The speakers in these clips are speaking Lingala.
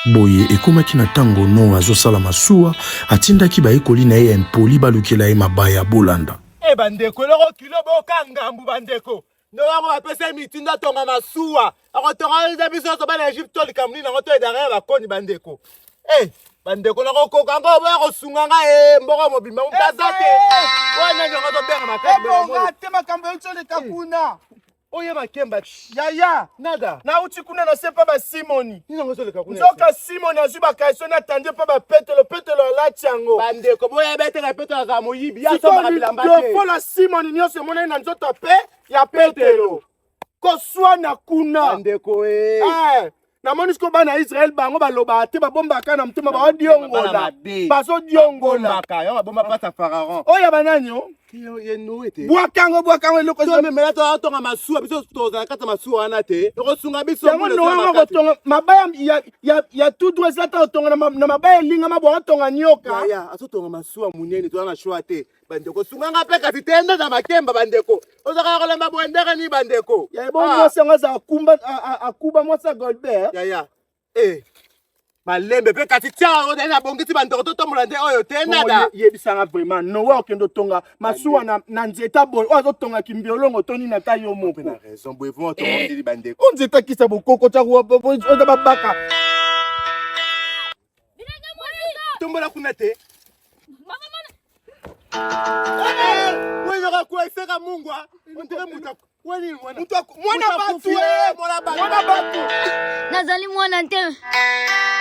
Boye, ekomaki na ntango Noa azosala masuwa, atindaki bayekoli na ye ya impoli balukela ye mabaya. Bolanda. E bandeko, eloko kilo boka ngambu bandeko. Noa yango bapesa ye mitindo atonga masuwa, akotonga biso nyonso bana Egypte to likambo nini yango to edare ya bakoni bandeko. E bandeko, nakokoka yango oboya kosunga ngai e mboko mobimba mpe aza te. Oyo nani yango azobenga makasi. Ebonga te makambo euti oleka kuna. oye makemba yaya nada nauti kuna na se mpa basimoni nzoka simoni azwi bakaiso na tande mpa bapetelo petelo alati yango bandeko boyeba ete na petelo azala moyibi yasombakabilambaofola simoni nyonso emonani na nzoto mpe ya petelo koswana kuna bandeko e eh. eh. namoni siko bana ya israele bango balobaka te babombaka na motema baodiongola bazodiongola oyo ya banani o bwaka yango bwaka yango eloko totonga masuwa biso tozala na kati ya masuwa wana te ekosunga biso yango noyango kotonga mabaya ya tutu esi ata kotonga na mabaya elingama boatonga nyoka azotonga masuwa monene toza na shwa te bandeko sunganga mpe kasi te nde na makemba bandeko ozalaka kolemba boye ndenge nini bandeko yaya bongo ah. mwasi yango aza akumba akuba mwasi ya golbert yaya e malembe mpe kasi tia oyo nde nabongisi bandeko totombola nde oyo te nada yebisanga vraiment nowa okende otonga masuwa na nzeta boye oyo azotonga kimbiolongo to nini ata yo moko na raison boye vraiment otonga ndili bandeko o nzeta kisa bokoko tya oza babaka Tombola kuna te. Wewe kuweseka Mungu, ndire mutu. Wewe mwana. Mutu mwana batu, eh, mwana batu. Mwana batu. Nazali mwana te.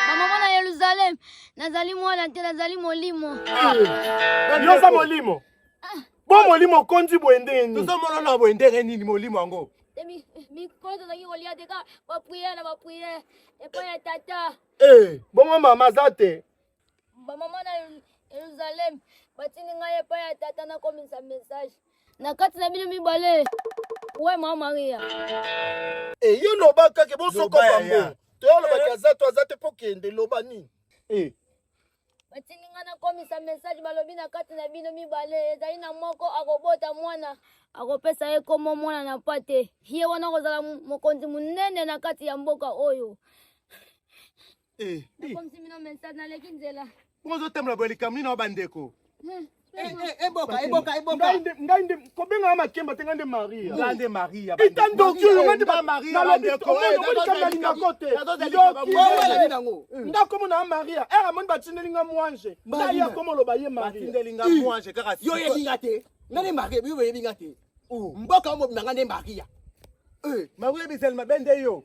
Mama mwana Yerusalem, nazali mwana te, nazali molimo. Eh, yo za molimo. Ah. Bo molimo konzi boye ndenge nini? Tozo mona na boye ndenge nini molimo yango? Mikolo tozalaki kolia te ka bapriere na bapriere epai ya tata Ee, eh, bongo mama aza te? Bamama na Yeruzalem batindi ngai epai ya tata nakomisa message na kati na bino mibale. We mama Maria. Ee, eh, yo loba kake bosokopa mbo. Toyalobaki eh. aza to aza te mpo kende loba nini? Ee. batindi ngai nakomisa mesaje balobi na kati na bino mibale ezali na moko akobota mwana akopesa ye nkombo mwana na mpa te ye wana akozala mokonzi monene na kati ya mboka oyo eh, eh. nakomisi bino mesaje naleki nzela bozotambola boye likambo nini wa bandeko hmm. Eh, eh, eboka eboka eboka ngai nde kobenga ya makemba te ngai nde maria ngai nde maria eta ndoki oyo ngai nde maria nalobikomonomolikanalinako te ndokiowelani nango nga komo na ya maria ere amoni batindeli nga mwanje ngai ya komo oloba ye mariatindeli nga mwanje kaka yo oyebi nga te ngai nde maria yo oyebi nga te mboka omobima ngai nde maria maria bizali mabe nde yo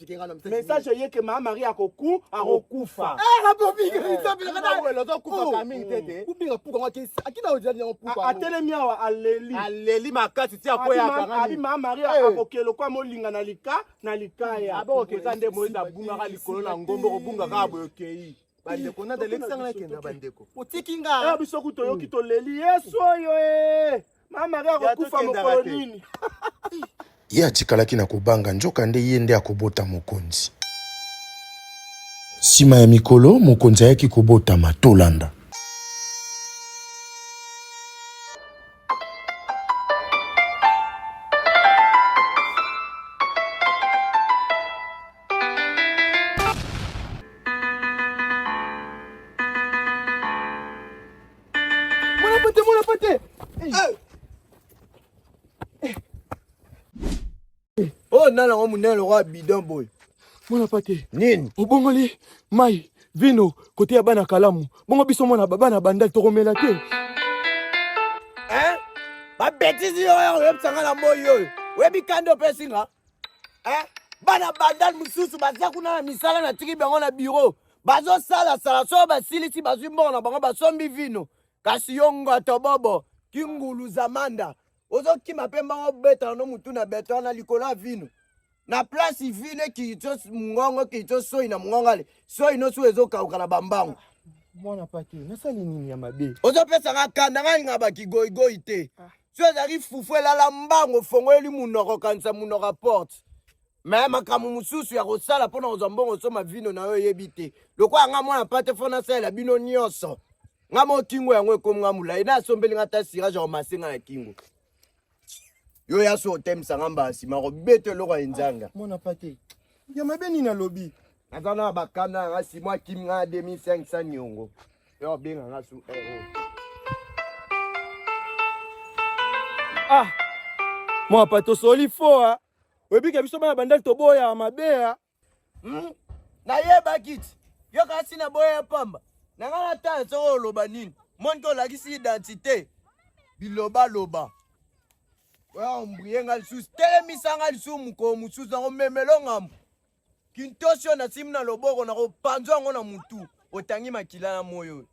message eye ke maa marie akoku akokufa atelemi awa aleli aleli makasi ti akoyaabi maa marie eh. akokela okwa molinga na lika na likaya abokokeka nde moyezi abungaka likolo na ngombo kobungaka boye okei bandeko nada elekisanga nakenda bandeko otiki nga eh, biso ku toyoki toleli yesu oyo e ye atikalaki na kobanga njoka nde ye nde akobota mokonzi nsima ya mikolo mokonzi ayaki kobotama tolanda Mwana pate, mwana pate. Eh. oyo nani yango monene lokola bidon boye mwana pate nini obongoli mai vino kote ya bana kalamu bongo biso mwana bana bandali tokomela te babetisi oyo oyebisa nga na moi oyo oyebi kanda opesi nga eh? bana bandal mosusu baza kuna na misala na tiki bango na biro bazosalasala soki basilisi bazwi mbongo na bango basombi vino kasi yo ngoto bobo kingulu zamanda ozokima mpe mbanga obetana no motu na betana na likolo ya vino na place vino ekii to mongongo ekii to soi na mongongo ale soi nosu ezokauka na bambango mwana pake nasali nini ya mabe ozopesa nga kanda nga linga bakigoigoi te ah. so ezalaki fufu elala mbango ofongoli munoko okanisa munoko ya porte me makambo mosusu ya kosala mpo na kozwa mbongo osoma vino na yo oyebi te lokola nga mwana pate fo nasalela bino nyonso nga mo kingo yango ekomi nga molai na asombeli nga ata sirage akomase nga na kingo yo ya so otemisa nga mbala nsima kobeta eloko ya enzanga ah, mwana pate ya mabe nini alobi naza na bakanda yanga simo akimi nga na 2500 niongo Yo benga nga su eh, eh. Ah, mwa pa tosoli fo ah. Oyebike biso bana bandali toboya mabe ah. Hmm? Nayebaki ti yo kasi na boya ya pamba na ngai na tala soko oloba nini monike olakisi identité bilobaloba oya ombrie ngai lisusu telemisa ngai lisusu mokolo mosusu nakomemelo ngambo Kintosi oyo nasimbi na loboko na kopanzwa yango na mutu otangi makila na moyo oyo.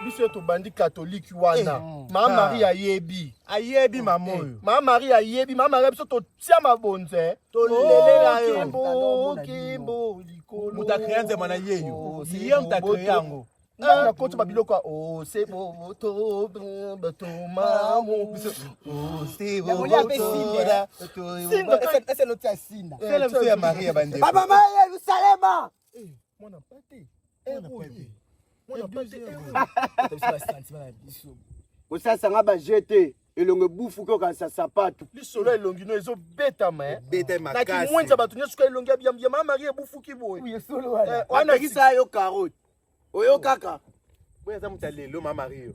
biso tobandi katoliki wana eh, mm. mama ah. marie ayebi ayebi mama eh, oyo mama marie ayebi mama marie biso totia mabonze tolelela yo kimbo likolo moto akrea nzema na yeyo ye moto akrea yango ntango nakoti babiloko ya osebototomamueseotoraesenotia sina biso ya maria bandeko bamama ya yerusalema mwana mpate kosasanga baje te elongo ebufu ke okanisa sapato lisolo elongi no ezobetama eh. na kimwenza bato nyonso ka elongi ya biyambiya ma marie ebufuki boye wana yo karote oyo kaka boye aza moto ya lelo ma mario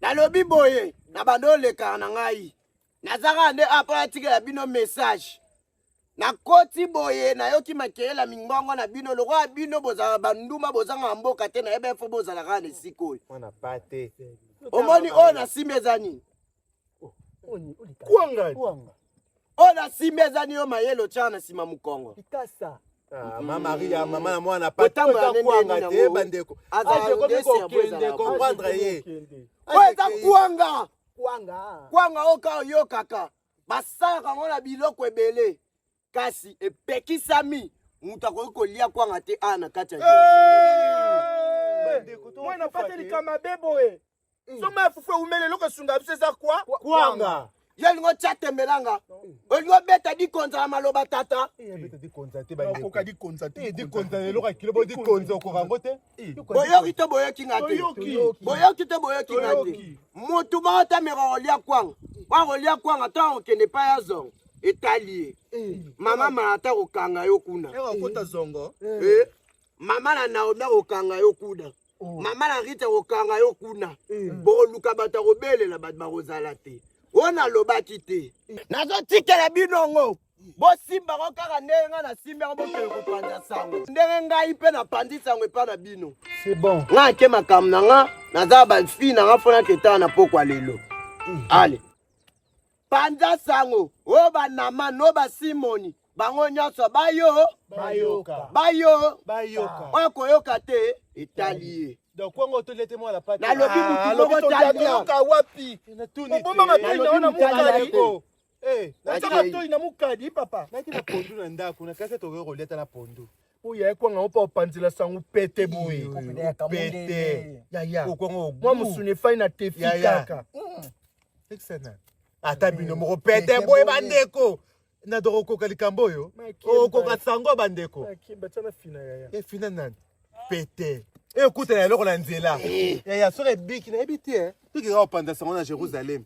nalobi boye na bando olekaka na ngai naza kaka nde apo natikela bino message nakoti boye nayoki makelela mingongo na bino lokola bino bozalaka banduma bozangaka mboka te nayeba efo bozalaka na esika oyo omoni oyo nasimbi eza nini kwanga kwanga oyo na simba eza niyo mayele otyaka na nsima mokongo likasa Ah, ma maria mama na mwana patambola nde kwanga te bandeko azakokende comprendre ye oyo eza kwanga kwanga oyo ka oyokaka basalaka yango na biloko ebele kasi epekisami moto akoki kolia kwanga te awa na kati ya mwana pate likama be boye mm. soma ya fufu eumeli eloko esunga biso eza kwa kwanga yo olingi otya tembelanga olingi obeta dikonza na maloba tata eh, okoka dikonza te eh, dikonza eloko ya kilo bo dikonza okoka yango te Eh, boyoki to boyoki nga te boyoki to boyoki nga te motu moko te meka kolia kwanga wa kolia kwanga to akokende epai ya zongo etali ye eh. mama malata kokanga yo kuna eh, mama na naomi akokanga yo kuna oh. mama na rita akokanga yo kuna bokoluka bato akobelela bato bakozala te oyo nalobaki te nazotikela bino ngo bosimba yango kaka ndenge ngai nasimbi yango bokende kopanza sango ndenge ngai mpe napanzi sango epai na bino bon. ngai ake makambo na nga naza bafille na nga mpo naketana na pokwa lelo mm. ale panza sango o banamani o basimoni bango nyonso bayo bayoka bayo bayoka oyo koyoka te etali ye donc kwango otoli ete mwana pati nalobi ah, motu moko taliaobombaka toli naona mokali Eh, natia matoi na mukadi papa. Naki na pondu na ndako, na kasa tokoki kolia ata na pondu. Oyo ekwanga opa opanzela sango pete boye. Pete. Ya ya. Okwanga mwa musuni efai na tefi kaka. Mm. Excellent. Ata bino moko pete boye bandeko. Na doko okoka likambo oyo. Okoka sango bandeko. Efina nani? Pete. Ekutana eloko na nzela. Eh. Ya ya soki ebiki nayebi te. Toki kaka opanza sango na Jerusalem. Mm.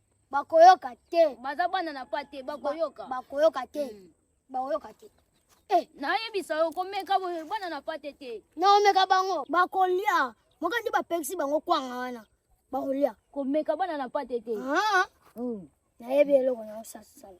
bakoyoka te baza bana na pa te bakoyoka bakoyoka te mm. bakoyoka te eh. nayebisa yo komeka bana na pa te te naomeka bango bakolia moka nde bapekisi bango kwanga wana bakolia komeka bana na pa te te ah. mm. nayebi eloko na osasala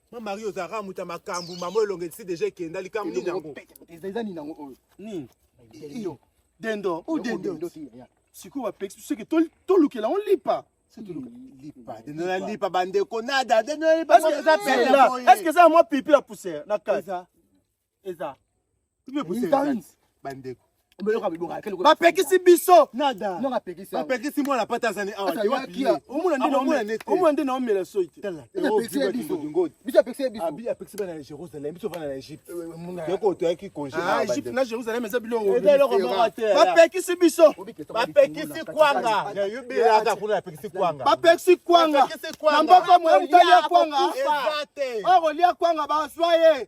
Ma Marie oza kaka moto ya makambo mama oyo elonga esi deja ekenda likambo nini yango eza nini yango oyo nini dendo o dendo sikoyo bapekisi biso eke tolukela yango lipa lipa bandeko nada eske eza mwa pipi ya poussière na kati eza bandeko bapekisi biso bapekisi mwana pata azani awaomona nde naomela soi teapekisi bana na jérusalem biso vana na egypte yoko toyaki congéegypte na jérusalem eza biloko te bapekisi biso bapekisi kwanga yobelaka kuna bapekisi kwanga bapekisi kwanga na mboko moya motali ya kwanga okolia kwanga bazwa ye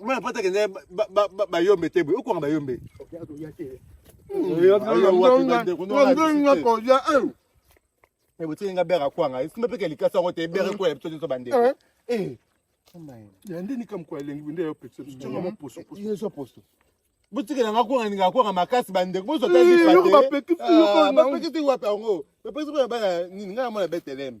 Mwana pata kende bayombe te boye okwanga bayombe botingi nga bere akwanga esimba mpe kelikasi yango te ebere ekwela biso nyonso bandeko yande nikamkwa elengi nde yopekisa biso tonga moposo poso botikela nga kwanga ninga kwanga makasi bandeko bozo tapekisi wapi yango bapekisi mpo na bana nini ngai namona beteleme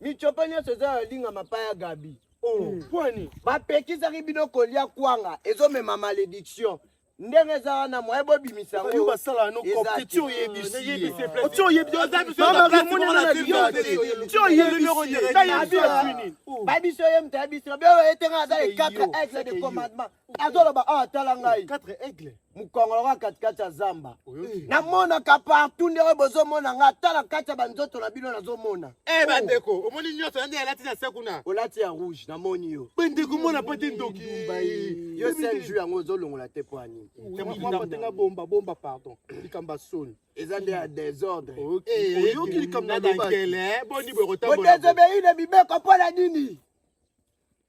Michopa nyonso eza ya linga mapaya Gabi. Oh, hmm. pwani. Bapekisaki bino kolia kwanga ezomema malediction. ndenge eza wana moye bobimisa yango basala yango kopeti oyebisi oti oyebi oza biso babiso ye moto ya biso beo etengaka aza le 4 aigle de commandement azoloba awa ah, tala ngai mokongo lokola katikati ya zamba namonaka partout nde oyo bozomona ngai ata na kati ya banzoto na bino nazomona eh, bandeko oh. omoni nyonso yande alati na se kuna olati ya rouge namoni yo bandeko mona mpo te ndoki yo sel jour yango ozolongola te mpo ani tenga bomba bomba pardon likambo ya soni eza nde ya desordre eh, oyoki likambo na dankele eh, boni bokotambola bodesobei na mibeko mpo na nini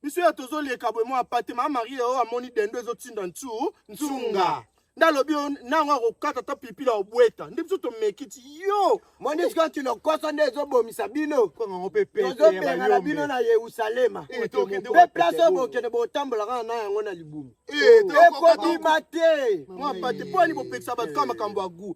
biso ya tozoleka boye mwa pate mama marie oyo amoni dendo ezotinda ntu nsunga nde alobi yo nango akokata ata pipi la obweta nde biso tomeki ti yo monisi kati lokoso nde ezobomisa bino kanga ngo mpe pete ya tozobengana bino bayombe na yerusalema Eh, tokende mpe wapi place oyo te? bokende botambolaka na yango na libumu Eh, tokokata- ekobima te mwa pate mpo ani bopekisa bato kaka makambo ya gu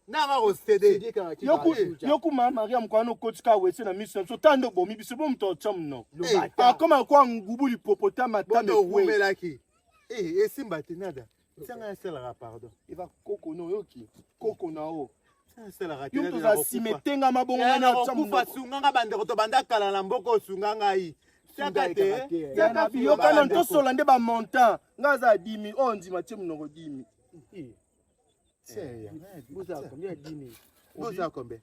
nanga kosede yokuma mariam kwana okotika wese na miso na biso tando obomi biso bo moto otya mno akoma kwa ngubu lipopotama tameelaki esimba te nada tianga yasalaka pardon eva koko na oyoki koko na o yo moto oza sima etengama bongo wana otya mno sunganga bandeko tobanda kala na mboka osunga ngai yokana tosola nde bamontant nga aza dimi oyo oh, ndima tie monoko dimi boza kombe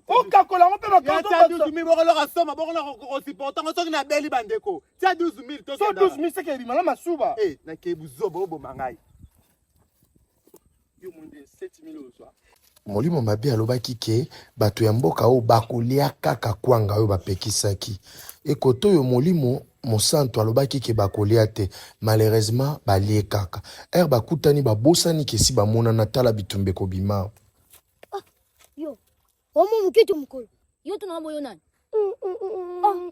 okakola yango mpe bakoloka soma bokona kosiporta yango soki nabeli bandeko tia 12 000 seke ebima na masuba nakei buzoba oboma ngai Molimo mabe alobaki ke bato ya mboka oyo bakolia kaka kwanga oyo bapekisaki. Ekoto oyo Molimo Mosantu alobaki ke bakolia te, malheureusement balie kaka. Heure bakutani babosani ke si bamonana tala bitumba ekobima. Ah, yo. Omo mukitu mukolo. Yo tuna boyo nani? Mm, mm, mm, mm. Ah.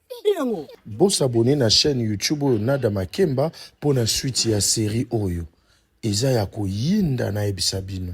Bo s'abonner na chaîne YouTube oyo Nada Makemba pour la suite ya série oyo. Eza ya koyinda na ebisa bino.